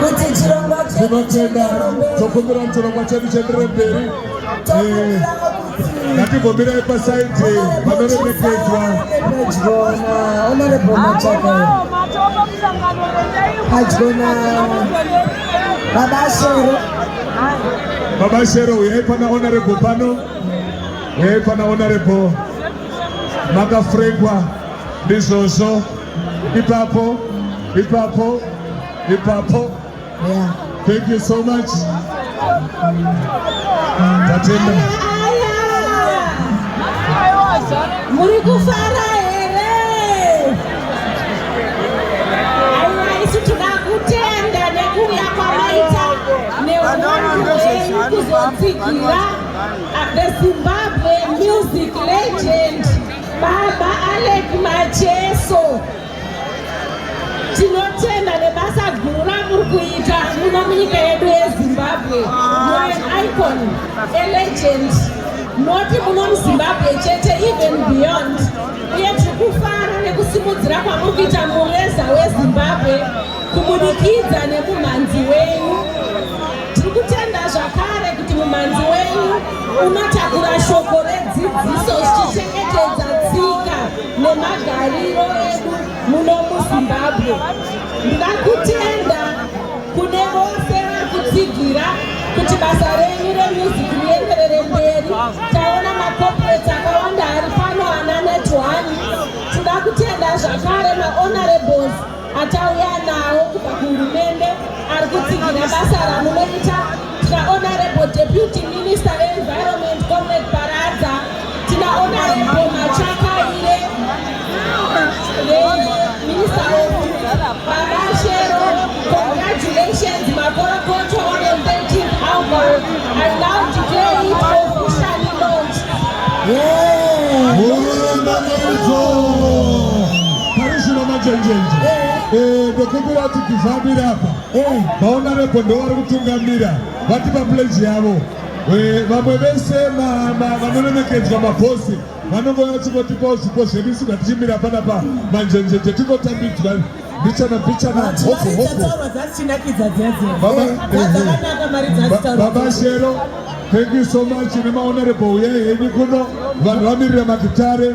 kuti chirongwa tinotenda tokumbira kuti chirongwa chedu chienderere mberi eh, ngatimbomirai pasaidhi vanoremekedzwa adyona baba shero baba shero uyai pana honorable pano uyai pana honorable makafrekwa ndizvozvo ipapo ipapo ipapo yeah. thank you so much tatenda muri kufara here aiwa isu tinoda kutenda nekuuya kwamaita neunhu wenyu kuzotsigira the zimbabwe music legend baba alek macheso Tinotenda nebasa guru ramuri kuita muno munyika yedu yeZimbabwe. You're an icon, a legend. Not muno muZimbabwe chete even beyond. Uye tiri kufara nekusimudzira kwamuri kuita mureza weZimbabwe kubudikidza nemumhanzi wenyu. Tiri kutenda zvakare kuti mumhanzi wenyu unotakura shoko redzidziso zvichichengetedza tsika nemagariro edu muno muzimbabwe ndakutenda kune vose vari kutsigira kuti basa renyu remusic rienderere mberi taona macorporate akawanda ari pano ana netone tinoda kutenda zvakare mahonorables atauya nawo kubva kuhurumende ari kutsigira basa ramunoita tina honorable deputy minister veenvironment comrade paradza tina honorable machakaire veminister babashero congratulations makorokoto on the 13th album i now declare it officially launched yeah. Parishina Machenjenje eh, ndokumbira kuti tizamire apa eh. vaona rebho ndovari kutungamira vati papleji yavo eh, vamwe vese vanolemekedzwa mabhosi vanonge vachikotipawo zvipo zvedu isu ngatichimira panapa manjenjenje tikotambidzwa bichana bichana hopo hopo baba shero thank you so much nemaonerebo uya henyu kuno vanhu vamirira magitare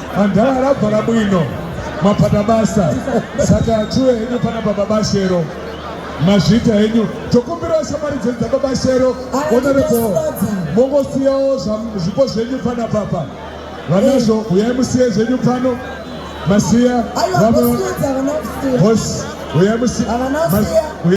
Andala rabva rabwino mapata basa saka achuwe henyu pana baba bashero mazvita henyu tokumbirawo shamwari dzenyu dzaba bashero onerebo mongosiyawo zvipo zvenyu pana papa vanazvo huyai musiye zvenyu pano masiya vamwe hosi huyai musiya